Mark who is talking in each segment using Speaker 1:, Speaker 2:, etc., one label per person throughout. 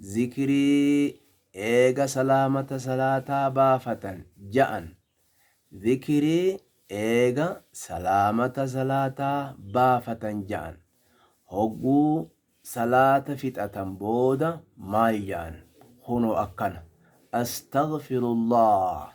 Speaker 1: Zikrii, eega salaamata salaataa baafatan, ja'an. Zikrii, eega salaamata salaataa baafatan, ja'an. Hogguu salaata fixatan booda maal ja'an? Kunoo akkana, Astaghfirullaah.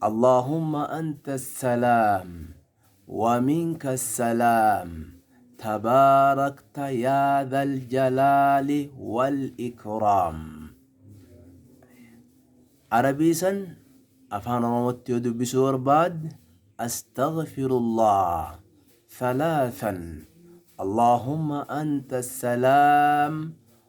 Speaker 1: Allaahumma anta salaam wa minka salaam tabaarakta yaa dhal jalaali wal ikraam Arabii san afaan oromootti yoo dubbisuu barbaad astaghfirullaah thalaathan Allaahumma anta salaam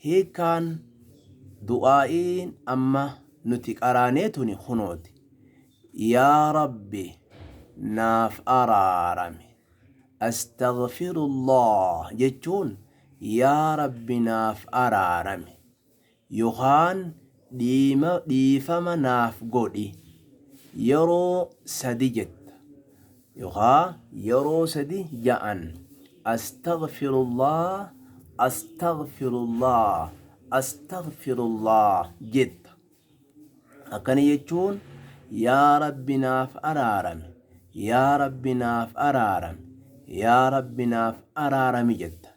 Speaker 1: Hiikkaan du'aa'iin amma nuti qaraanee tuni kunooti. Yaa Rabbi naaf araarami. Astaghfirullaah jechuun Yaa Rabbi naaf araarami yokaan dhiima dhiifama naaf godhi yeroo sadi jetta. Yookaa yeroo sadi ja'an Astaghfirullah Astaghfirullah Astaghfirullah jetta. Akkana jechuun Yaa Rabbi naaf araarami Yaa Rabbi naaf araarami Yaa Rabbi naaf araarami jetta.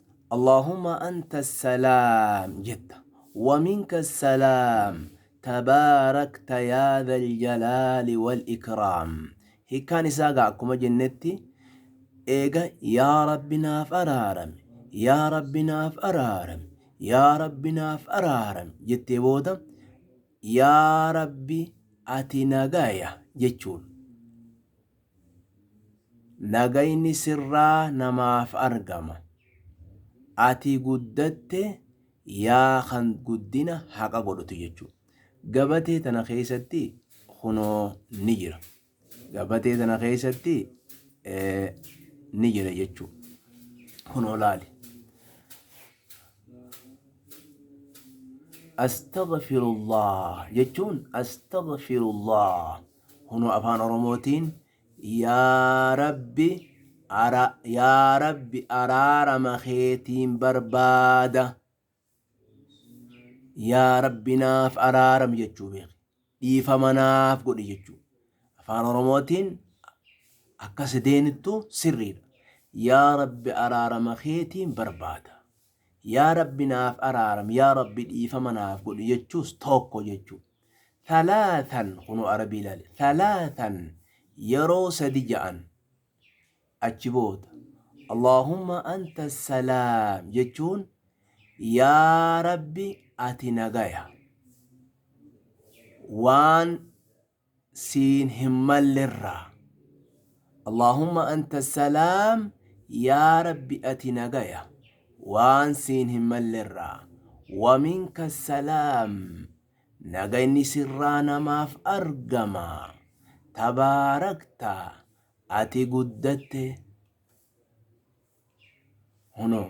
Speaker 1: Allaahumma anta salaam jetta wa minka salaam tabaarakta yaa dhal jalaali wal ikraam hikkaan isaa gaa akkuma jennetti eega yaa rabbi naaf araarami yaa rabbi naaf araarami yaa rabbi naaf araarami jettee booda yaa rabbi ati nagaya jechuun Nagayni sirraa namaaf argama. Ati guddatte yaa kan guddina haqa godhutu jechuudha. Gabatee tana keessatti kunoo ni jira. Gabatee tana keessatti ni jira jechuudha. Kunoo laali. Astaghfirullah jechuun astaghfirullah. Kunoo afaan oromootiin yaa rabbi ara yaa rabbi araarama keetiin barbaada yaa rabbi naaf araaram jechuu beeki dhiifama naaf godhi jechuu afaan oromootiin akka sideenittu sirriidha yaa rabbi araarama keetiin barbaada yaa rabbi naaf araaram yaa rabbi dhiifama naaf godhi jechuus tokko jechuudha Thalathan kunoo arabii ilaali thalathan yeroo sadi ja'an achi booda Allahumma anta salaam jechuun yaa rabbi ati nagaya waan siin hin mallerraa Allaahumma anta salaam Yaa Rabbi ati nagaya waan siin hin mallerraa wa minka salaam nagayni sirraa namaaf argama tabaarakta ati guddatte hunoo.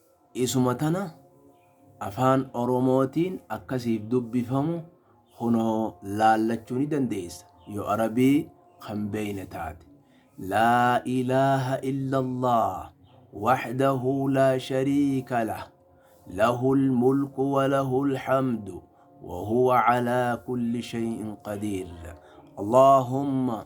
Speaker 1: Isuma tana Afaan Oromootiin akka siif dubbifamu kunoo laallachuu ni dandeessa yoo Arabii kan beeyne taate. Laa ilaaha illallaah wahdahu laa shariika lah lahul mulku wa lahul hamdu wa huwa calaa kulli shay'in qadiir. Allaahumma.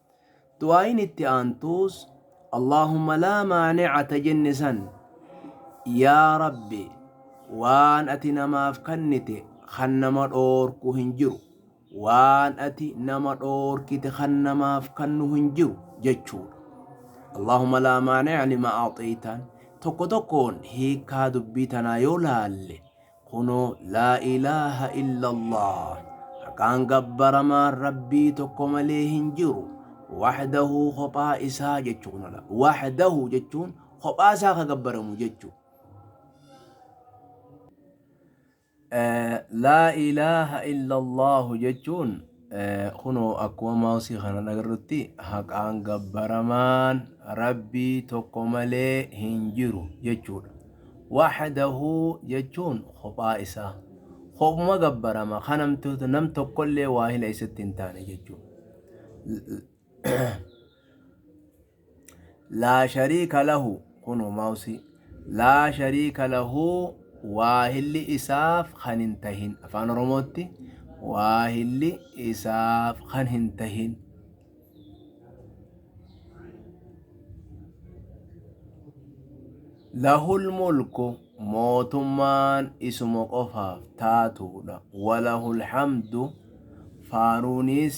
Speaker 1: Du'aa'iin itti aantuus Allaahumma laa maani'a ta jenne san, Yaa Rabbi! Waan ati namaaf kannite kan nama dhoorku hin jiru, waan ati nama dhoorkite kan namaaf kannu hin jiru jechuudha. Allaahumma laa maani'a limaa a'xaytaan. Tokko tokkoon hiikkaa dubbii tanaa yoo laalle, Kunoo, Laa ilaaha illallaah, haqaan gabbaramaan Rabbii tokko malee hin jiru, wahdahu kophaa isaa jechu kun ala. Wahdahu jechuun kophaa isaa ka gabbaramu jechu. Laa ilaaha illallaah jechuun Kunoo akkuma maawsii kanaan agarrutti haqaan gabbaramaan rabbii tokko malee hin jiru jechuudha. Wahdahu jechuun kophaa isaa. Kopuma gabbarama kan namtoota nam tokkollee waahila isatti hin taane jechuudha. Laa shariika lahu Kunoo maawsii Laa shariika lahu Waahilli isaaf kan hin tahin Afaan Oromootti Waahilli isaaf kan hin tahin Lahul mulku mootummaan isuma qofaaf taatuudha Walahul hamdu faaruunis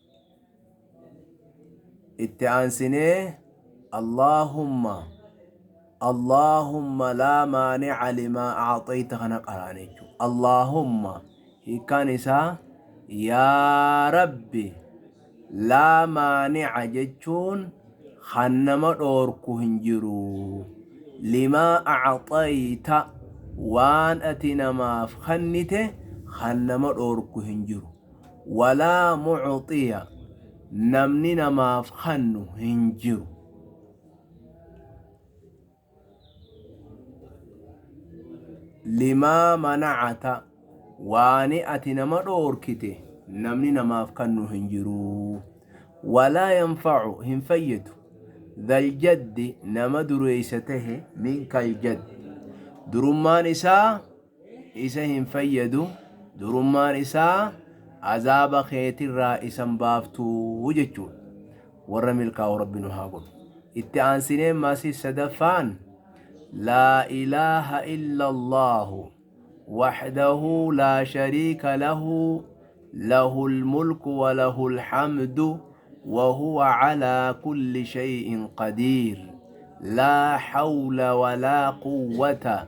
Speaker 1: itti aansinee allaahumma allaahumma laa maanica limaa acxayta kana qaraan jechuu allaahumma hiikkaan isaa yaa rabbi laa maanica jechuun kan nama dhoorku hin jiru limaa acxayta waan ati namaaf kennite kan nama dhoorku hin jiru walaa mucuxiya namni namaaf kannu hin jiru limaa manacata waani ati nama dhoorkite namni namaaf kannu hin jiruu walaa yanfacu hin fayyadu daljaddi nama dureeysa tahe minkal jaddi durummaan isaa isa hin fayyadu durummaan isaa azaaba keetirraa isan baaftuu jechuudha warra milkaa'u rabbi nu haa godhu itti aansinee maasii sadaffaan laa ilaaha illallaahu waxdahu laa shariika lahu lahu lmulku walahu lhamdu wahuwa calaa kulli shay'in qadiir laa hawla walaa quwwata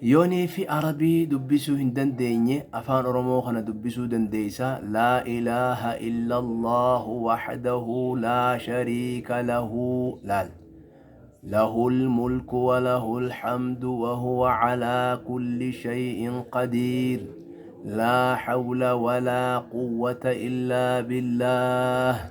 Speaker 1: Yonii fi arabii dubbisuu hin dandeenye afaan oromoo kana dubbisuu dandeeysa laa ilaaha illallaahu wahdahu laa shariika lahu laal lahul mulku wa lahul hamdu wa huwa calaa kulli shay'in qadiir laa hawla walaa quwwata illaa billaah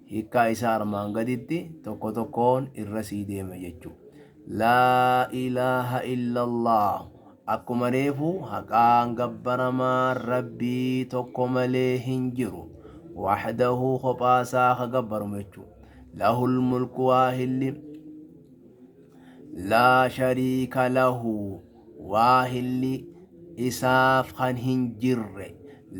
Speaker 1: Hiikkaa isaa armaan gaditti tokko tokkoon irra sii deema jechu. Laa ilaaha illallaahu akkuma reefu haqaan gabbaramaan rabbii tokko malee hin jiru. Wahdahu kophaa isaa ka gabbaramu jechu. Lahul mulku waahilli laa shariika lahu Waahilli Isaaf kan hin jirre.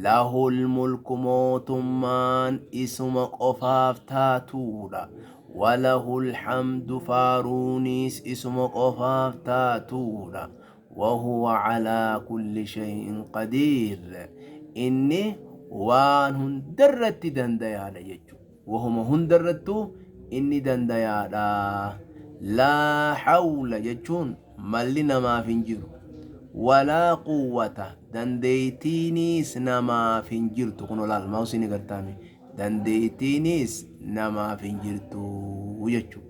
Speaker 1: Lahul mulku mootummaan Isuma qofaaf taatuudha. Walahul hamdu faaruunis Isuma qofaaf taatuudha. Wahuwa calaa kulli shay'in qadiir. Inni waan hundarratti dandayaadha jechuudha. Wahuma hundarrattuu inni dandayaadha. Laa hawla jechuun malli namaaf hin jiru. Walaa quwwata dandeeytiiniis namaaf hin jirtu. Kunoo laal maawsii ni gartaame. Dandeeytiiniis namaaf hin jirtu jechuudha.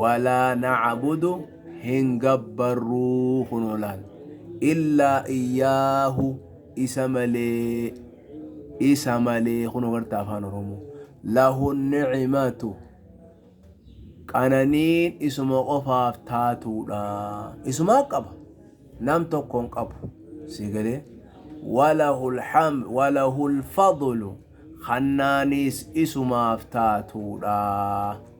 Speaker 1: walaa na'abudu hin gabbarruu kunoo laal illaa iyyaahu isa malee isa malee kunoo garta afaan oromoo lahu ni'imatu qananiin isuma qofaaf taatuudha isumaa qaba nam tokkoon qabu si galee walahul ham walahul fadlu kannaaniis isumaaf taatuudha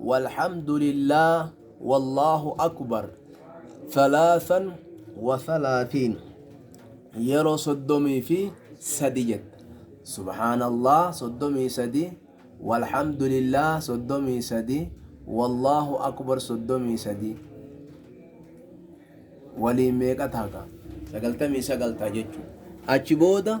Speaker 1: Walhamdulillah Wallahu Akubar Thalathan wa thalathin Yeroo soddomii fi sadi jetta. Subhaanallah soddomii sadi Walhamdulillah soddomii sadi Wallahu Akubar soddomii sadi Waliin meeqa taha kaa? Sagaltamii sagal taha jechuudha. Achi booda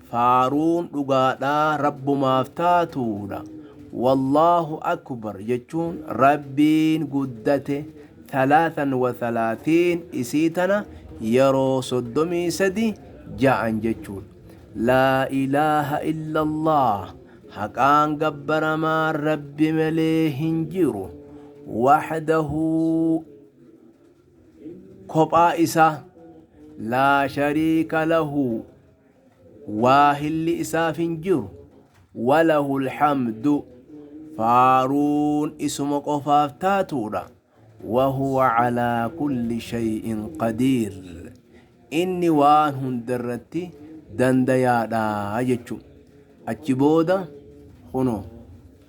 Speaker 1: Faaruun dhugaadhaa Rabbumaaf taatuudha. Wallaahu Akbar jechuun Rabbiin guddate thalathan wa thalathiin isii tana yeroo soddomii sadi ja'an jechuudha. Laa ilaaha illallah haqaan gabbaramaan Rabbi malee hin jiru. Wahdahu kophaa isaa laa shariika lahu waahilli isaaf hin jiru walahul hamdu faaruun isuma qofaaf taatuudha wahuwa calaa kulli shay'in qadiir inni waan hundarratti dandayaadha jechu achi booda kunoo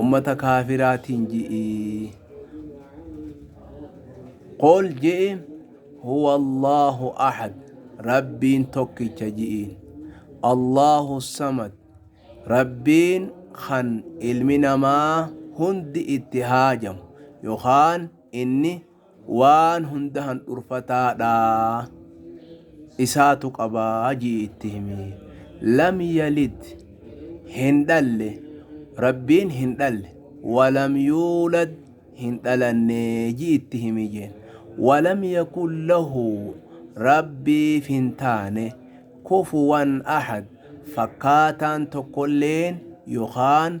Speaker 1: ummata kaafiraatiin ji'i qul ji'i huwa allaahu ahad rabbiin tokkicha ji'iin allaahu samad rabbiin kan ilmi namaa hundi itti haajamu yookaan inni waan hunda handhurfataadha isaatu qabaa jii itti himi lam yalid hin dhalle rabbiin hin dhalle walam yuulad hin dhalanne jii itti himi jeen walam yakun lahu rabbiif hin taane kufuwan ahad fakkaataan tokkolleen yookaan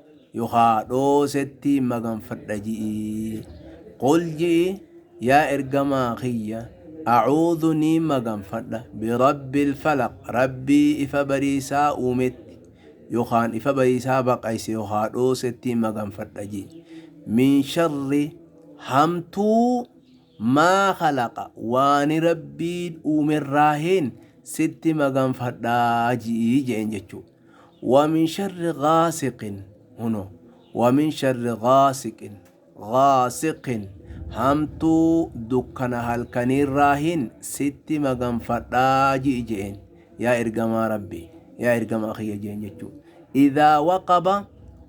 Speaker 1: yokaa dhoosetti maganfadha ji'i qul ji'i yaa ergamaa kiyya acuudhu ni maganfadha birabbil falaq rabbii ifa bariisaa uumetti yokaan ifa bariisaa baqayse yokaa dhoosetti maganfadha ji'i min sharri hamtuu maa khalaqa waani Rabbiin uumerraahiin sitti maganfadha ji'i je'een jechuu. Wa min sharri ghaasiqin hunoo wa min sharri ghaasiqin ghaasiqin hamtuu dukkana halkaniirraahiin sitti maganfadha ji'i je'een yaa ergamaa Rabbii yaa ergamaa kiyya je'een jechuu. Idhaa waqaba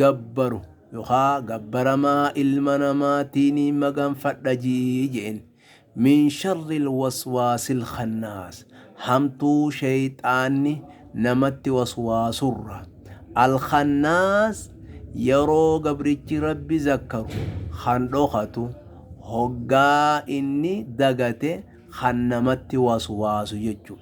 Speaker 1: gabbaru yookaa gabbaramaa ilma namaatiin maganfadha je'een. min sharril waswaasil khannaas hamtuu sheyxaanni namatti waswaasurra. al khannaas yeroo gabrichi rabbi zakkaru kan dhokatu hoggaa inni dagate kan namatti waswaasu jechu.